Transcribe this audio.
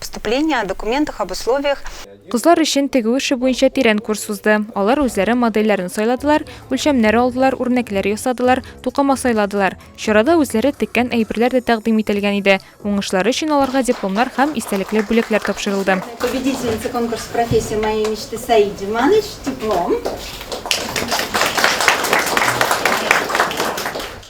Вступление о документах об условиях. Кызлар өчен тегү эше буенча тирән курс узды. Алар үзләре модельләрне сайладылар, үлчәмнәр алдылар, үрнәкләр ясадылар, тукыма сайладылар. Чарада үзләре теккән әйберләр дә тәкъдим ителгән иде. Уңышлары өчен аларга дипломнар һәм истәлекле бүләкләр тапшырылды. Победительница конкурса Профессия моей мечты Саид Диманович, диплом.